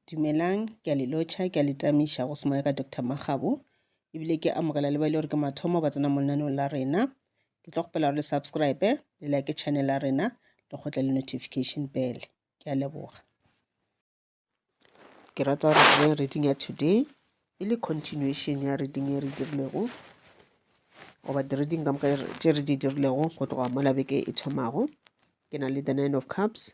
Dumelang, ke a le lotšha, ke a le tamiša go semoya ka Doctor Makgabo, ebile ke amogela le ba e le gore ke mathomo ba tsena mo lenaneong la rena. Ke tlo kgopela gore le subscribe, le like channel ya rena, le kgotle le notification bell. Ke a leboga. Ke rata gore re dire reading ya today, e le continuation ya reading e re dirilego, goba di-reading ka moka tše re di dirilego go tloga mola beke e thomago. Ke na le the nine of cups,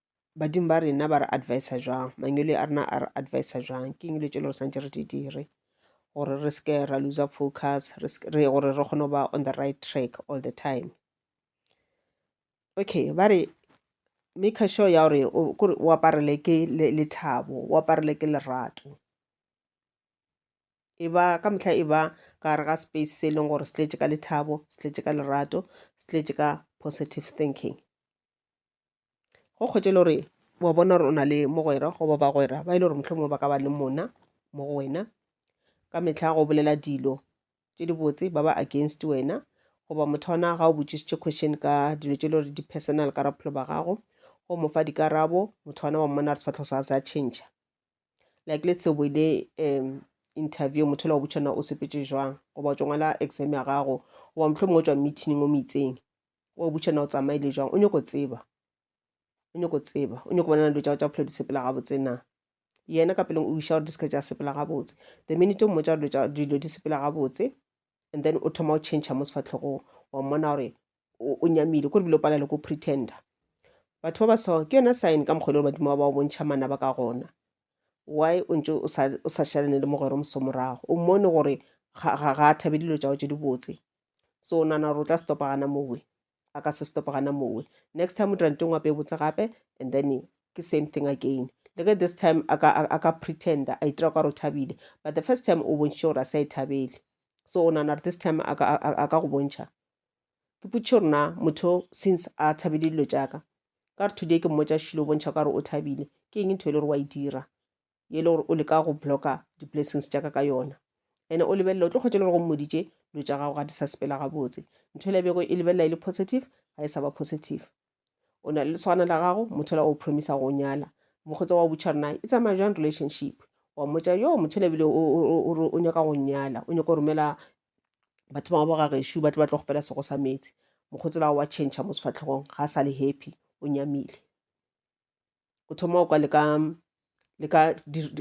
badimo ba rena ba re advisa jwang mangwele a rena a re advisa jwang ke eng le tšelo re swantse re di dire gore re seke ra loser focus re gore re kgone ba on the right track all the time okay ba re make sure ya gore kore o aparele ke lethabo o aparele ke lerato e ba ka mehla e ba ka re ga space se e leng gore se tletše ka lethabo se tletše ka lerato se tletše ka positive thinking go kgotše e le gore wa bona gore o na le mogwera goba bagwera ba e le gore mohlomongwe ba ka ba le mona mo go wena ka mehla go bolela dilo tše dibotse ba ba against wena goba motho wa ona ga o botšišitše question ka dilo tše e le gore di-personal ka bophelo ba gago go mo fa dikarabo motho wa ona wa mmona re sefatlhogo sa se a change like le seo boile um interview motho la o botšana o sepetse jwang goba o tšongwala exam ya gago goba mohlomongwe o tswa meeting o mo itseng wa o butšha na o tsamaile jwang o nyoko tseba o nyoko tseba o nyoko bonana dilo tsa go tsa bophelo di sepela gabotse na yena ka peleng o iša gore di seke tša sepela gabotse the minute o mmotsa gore dilo di sepela gabotse and then o thoma o change mo sefatlhogong wa mmona gore o nyamile kore bile o palale ko pretender batho ba ba so ke yona sign ka mokgwele gore badimo ba ba o bontšha mana ba ka gona why o ntse o sa šalane le mogwero moso morago o mmone gore ga a thabe dilo tsa go tse di botse so o nana gore o tla stopa gana mowe a ka se stopa gana mowe next time o dira nteng wape e botse gape and then ke same thing again le ge this time a ka pretender a itira ka gore o thabile but the first time o bontšhitše gore a sa e thabele so o nana gore this time a ka go bontšha ke putšhe gore na motho since a thabile dilo tšaka ka re today ke mmotsa šilo o bontšha ka gore o thabile ke eng ntho e le gore wa e dira ye e le gore o leka go blocka di-blessings tša ka ka yona ene o lebelela o tlo kgwetše le gore go mmoditše dilo tša gago ga di sa sepela gabotse ntho e lebego e lebelela e le positive ga e sa ba positive o na le leswana la gago motho la o promisa go nyala mokgotsa wa butšha rena e tsamaya jang relationship wa mmotsa yo motho le ebile o nyaka go nyala o nyaka go romela batho bangwe ba gagešu ba tle ba tlo gopela sego sa metsi mokgotsi la wa change mo sefatlhegong ga a sa le happy o nyamile o thoma kwa le ka le ka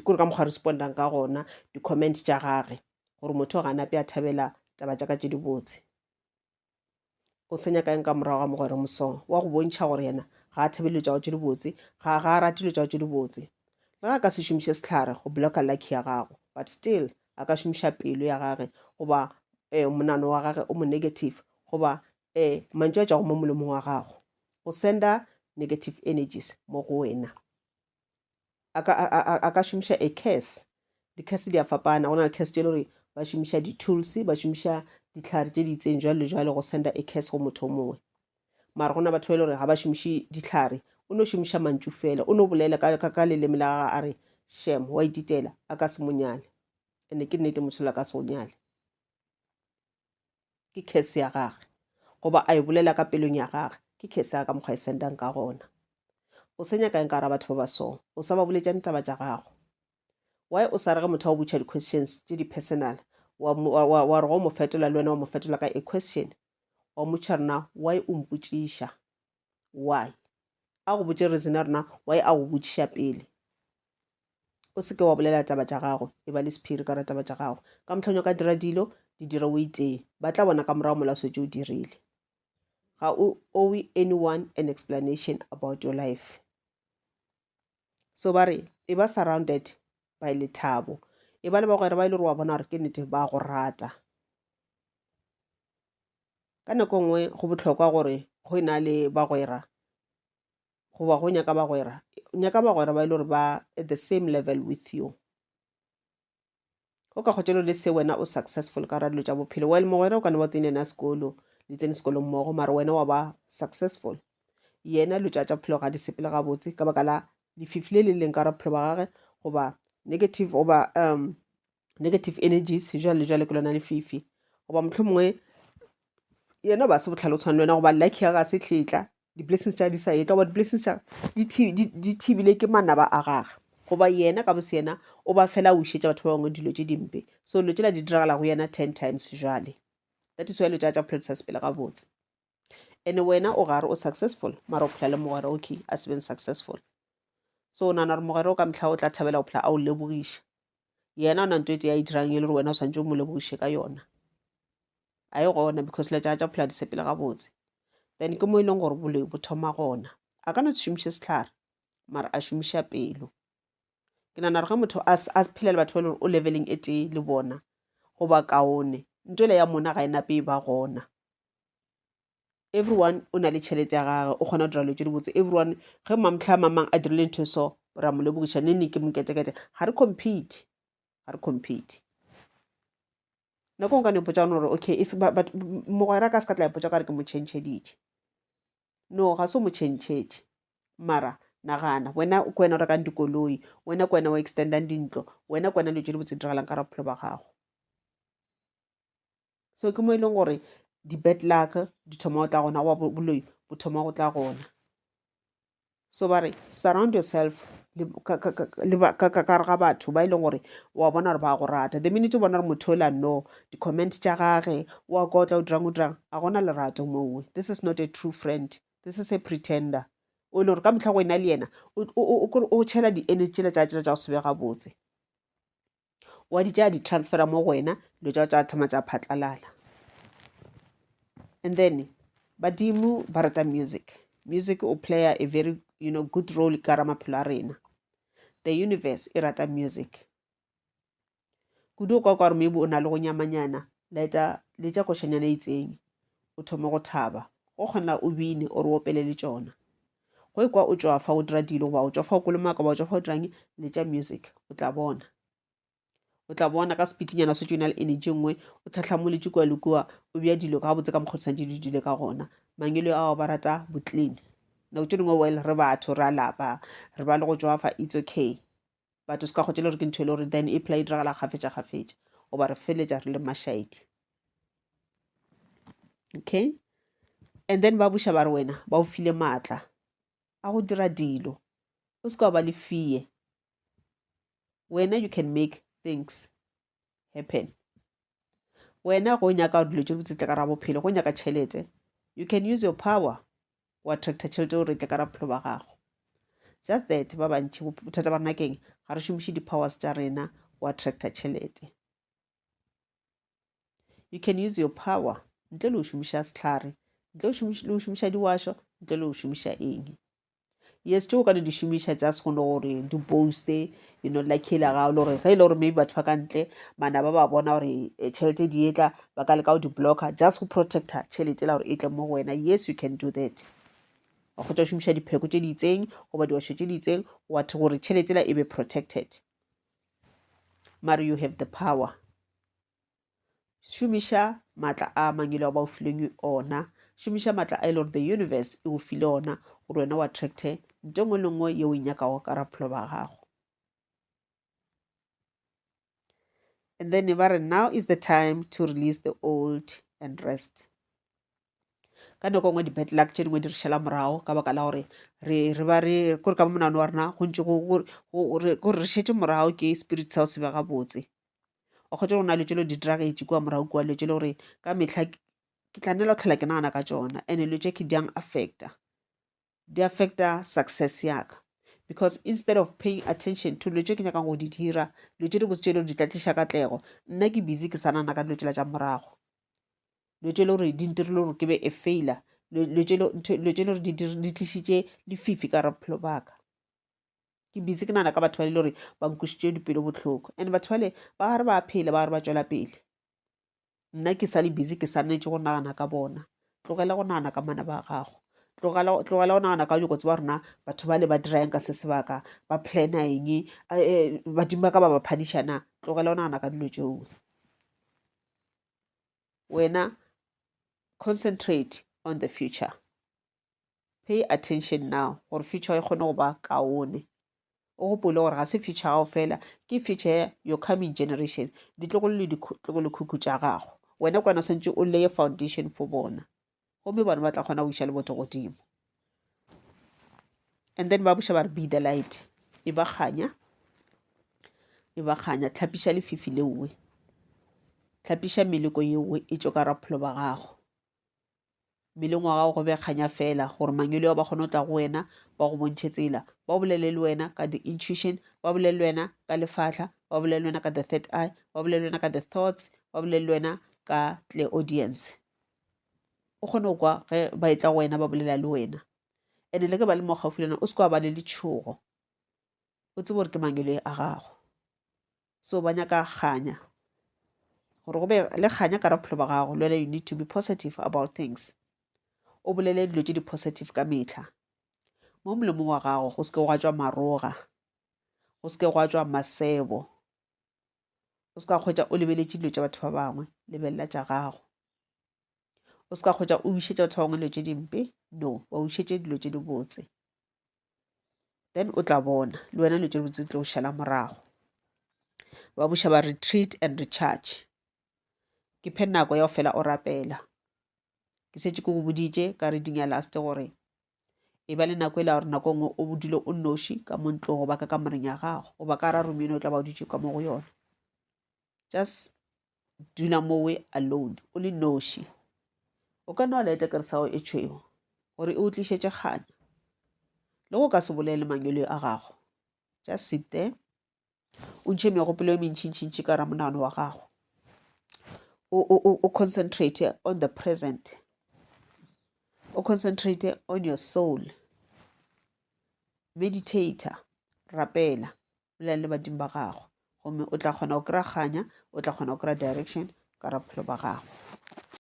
kore ka mokgwa respondang ka gona di-comment tša gage gore motho o ganape a thabela taba tša ka tše dibotse o senya kaeng ka morago ga mogwere mosong wa go bontšha gore yena ga a thabele tšago tše dibotse ga ga a ratile tšago tše dibotse le ga a ka se šomiše sehlare go blocka lucky ya gago but still a ka šomiša pelo ya gage goba um monano wa gage o mo negative goba E, mantšu a tšwago mo molomong wa gago. O senda negative energies mo go wena. A ka, a, a, a ka šomiša a curse. Di-curse di a fapana. Go na le curse tše le gore ba šomiša di-tools, ba šomiša ditlhare tše di itseng jwalo le jwalo go senda a curse go motho o mongwe. Mara go na batho ba e le gore ga ba šomiše ditlhare. O no šomiša mantšu fela. O no bolela ka, ka, ka leleme la gagwe a re, Shem, wa ititela, a ka se mo nyale. Ene ke nnete mosola ka se go nyale. ke khese ya gage goba a e bolela ka pelong ya gage ke khese ya ka mokgwa e sendang ka gona o se nyakang ka ra batho ba ba so o sa ba boletša ditaba tša gago why o sa rege motho wa go butšha di-questions tše di-personal wa re go mo fetola le wena wa mo fetola ka a question wa motšha rena why o mpotšiša why a go botše reason ya rena why a go botšiša pele o seke wa bolela taba tša gagwe e ba le sephiri ka ra taba tša gagwe ka mohlong o ka dira dilo di dire o itee ba tla bona ka morago mola swetse o dirile ga o owe anyone an explanation about your life so ba re e ba surrounded by lethabo e ba le bagwera ba e le gore wa bona gore ke nnete ba go rata ka nako e nngwe go botlhokwa gore go e na le bagwera goba go nyaka bagwera nyaka bagwera ba e le gore ba at the same level with you o ka kgotšelo le se wena o successful ka radilo tša bophelo well mogwera o ka ne ba tsene na sekolo le tsene sekolo mmogo mara wena wa ba successful yena lo tša tša bophelo ga di sepele gabotse ka baka la lefifi le le leng ka ra bophelo ba gage goba negative oba um negative energies jwale le jwale ke lona lefifi goba motlho mongwe yena ba se botlhale o tshwana le wena goba lucky ya ga se tletla di-blessings tša di sa ye ka goba di-blessings tša di thi- di- di thibile ke manaba a gage goba yena ka bose yena o ba fela o šetša batho ba bangwe dilo tše dimpe so dilo tšela di diragala go yena ten times jale that is why dilo tša tša bophelo di sa sepele gabotse and wena o gare o successful mara o phela le mogwera okay a se beng successful so o nagana gore mogwera o ka mehla o tla thabela go phela a o lebogiša yena o na nto e tee a e dirang e le gore wena o tshwanetse o mo lebogiše ka yona a e gona because le tša tša phela di sepele gabotse then ke mo e leng gore boloi bo thoma gona a ka no se šomiše setlhare mara a šomiša pelo ke nagana gore ge motho a s- a se phela le batho ba e leng gore o leveleng e tee le bona goba kaone nto ele ya mona ga e nape e ba gona everyone o na le tšhelete ya gage o kgona go dira dilo tse dibotse everyone ge mamtlha a mamang a dirile ntho e so ra mo lebogiša ne ne ke moketekete ga re compete ga re compete nako nka ne potsa gore okay e mogwera ka se ka tla ipotsa ka re ke mo chentšheditše no ga se mo chentšhetše mara nagana wena ke wena o rekang dikoloi wena ke wena o extendang dintlo wena ke wena dilo tse di botse di diragalang ka ra bophelo ba gago so ke mo e leng gore di-bad luck di thoma go tla gona goba boloi bo thoma go tla gona so ba re surround yourself le ka- ka- ka- le ba- ka ka- ka gare ga batho ba e leng gore wa bona gore ba go rata the minute o bona gore motho ola no di-comment tša gage wa kotla o dirang o dirang a gona lerato mowe this is not a true friend this is a pretender o e leng gore ka motlha go ena le yena o- o o- o- o tšhela di-energy tsela tša tšela tša go se be gabotse wa di tšaya di-transfera mo go wena dilo tša tša thoma tša phatlalala and then badimo ba rata music music o player a very you know good role ka ra maphelo a rena the universe e rata music kudu o kwa kwa gore maybe o na le go nyamanyana laeta le tša košanyana e itseng o thome go thaba go kgona o bine o re opele le tšona go e kwa o tšwa fa o dira dilo goba o tšwa fa o kolomaka goba o tšwa fa o dirang le tša music o tla bona o tla bona ka sepitinyana se tšona le energy nngwe o tlhatlhamoletše kua le kua o bja dilo ka botse ka mokgodisang di le dile ka gona mangelo ao ba rata boclean nako tše dingwe well re batho re a lapa re ba le go tšwafa it's okay batho se ka kgotse le gore ke ntho e le gore then e phela e diragala kgafetša-kgafetša goba re feletša re le mašaedi okay and then ba buša ba re wena ba o file maatla a go dira dilo o se ka ba le fee wena you can make things happen wena go nyaka dilo tše botse tle ka ra bophelo go nyaka tšhelete you can use your power go attracta tšhelete gore tle ka ra bophelo ba gago just that ba bantšhi bothata ba rena keng ga re šomiše di-powers tša rena go attracta tšhelete you can use your power ntle le go šomiša sehlare ntle le go šomiša diwašo ntle le go šomiša eng yes tšeo ka di di šomiša just go no gore di poste you know la kile ga le gore ge e le gore maybe batho ba ka ntle mana ba ba bona gore eh, tšhelete di etla ba ka leka go di blocker just go protecta tšhelete la gore e tle mo go wena yes you can do that wa kgotsa šomiša dipheko tše di itseng goba diwašo tše di itseng watho gore tšhelete la e be protected mare you have the power šomiša maatla a mangelo a ba o fileng ona šomiša maatla a e le gore the universe e o file ona gore wena wa attracte nto ngwe le ngwe yeo e nyakago ka raphelo ba gago and then ba re now is the time to release the old and rest ka nako e nngwe di-bad luck tše dingwe di re šala morago ka baka la gore re re ba re kore ka mo monagano wa rena go ntse kore re šetše morago ke spirit sa go se be gabotse wa kgwetše go na le tšelo di diragetše kua morago kua dilo tše le gore ka mehla ke tla nela go tlhola ke nagana ka tsona and-e dilo tše ke di yang affecta. di affecta success yaka because instead of paying attention to dilo tse ke nyakang go di dira dilo tse di botse tse le di tla tliša katlego nna ke busy ke sa nana ka dilo tsela tša morago dilo tse le gore di ntirile gore ke be a failure dilo tse le gore di tlišitše lefifi ka rabophelo baka ke busy ke nana ka batho ba le gore ba nkwisitše dipelo bohloko and batho bale ba gare ba phela ba gare ba tšwela pele nna ke sa le busy ke swanetše go nagana ka bona tlogela go nagana ka mana ba gago tlogela go nagana ka nyoko tseba rona batho ba le ba dirang ka se sebaka ba plana eng eh, eh, badimo ba ka ba ba phadišana tlogela go nagana ka dilo tšeo wena concentrate on the future Pay attention now gore future e kgone go ba kaone. O gopole gore ga se future ya gago fela, ke future ya your coming generation, ditlogolo le ditlogolokhukhu tša gago. Wena ke wena o swanetše o leye foundation for bona, gomme bona ba tla kgona go iša lebotho godimo. And then ba buša ba re, Be the light, e ba kganya, e ba kganya. Tlhapiša lefifi leowe, tlhapiša meleko yeowe e tšwe ka gare ga bophelo ba gago. mmeleng wa gago go be kganya fela gore mangwele ao ba kgone go tla go wena ba go bontšhe tsela ba bolele le wena ka the intuition ba bolele le wena ka lefahla ba bolele le wena ka the third eye ba bolele le wena ka the thoughts ba bolele le wena ka tle audience o kgone go kwa ge ba e tla go wena ba bolela le wena ene le ke ba le mo gaufi le wena o se ke wa ba le letšhogo o tsebe gore ke mangwele a gago so ba nyaka kganya gore go be le kganya ka ra bophelo ba gago lwela you need to be positive about things o bolele dilo tse di-positive ka metlha mo molomong wa gago go seke gwa tswa maroga go seke gwa tswa masebo o se ka kgwetsa o lebeletše dilo tša batho ba bangwe lebelela tša gago o se ka kgwetsa o wišetša batho ba bangwe dilo tše dimpe no ba wišetše dilo tše dibotse then o tla bona le wena dilo tše dibotse di tlo šala morago ba buša ba retreat and recharge ke phe nako ya go fela o rapela ke setse ke go boditše ka reading ya last gore e ba le nako e la gore nako e nngwe o bodile o noši ka mo ntlong goba ka kamoreng ya gago goba ka ra romeno o tla ba o dutše ka mo go yona just dula mowe alone o le noši o ka no leta kere sago e tšhweo gore e o tlišetše kganya le go ka se bolele mangwele a gago just sit there o ntšhe megopolo e mentšhintšhintši ka ramonagano wa gago o concentrate on the present o concentrate on your soul meditator rapela bolela le badimo ba gago gomme o tla kgona go kry-a kganya o tla kgona go kry-a direction ka ra bophelo ba gago.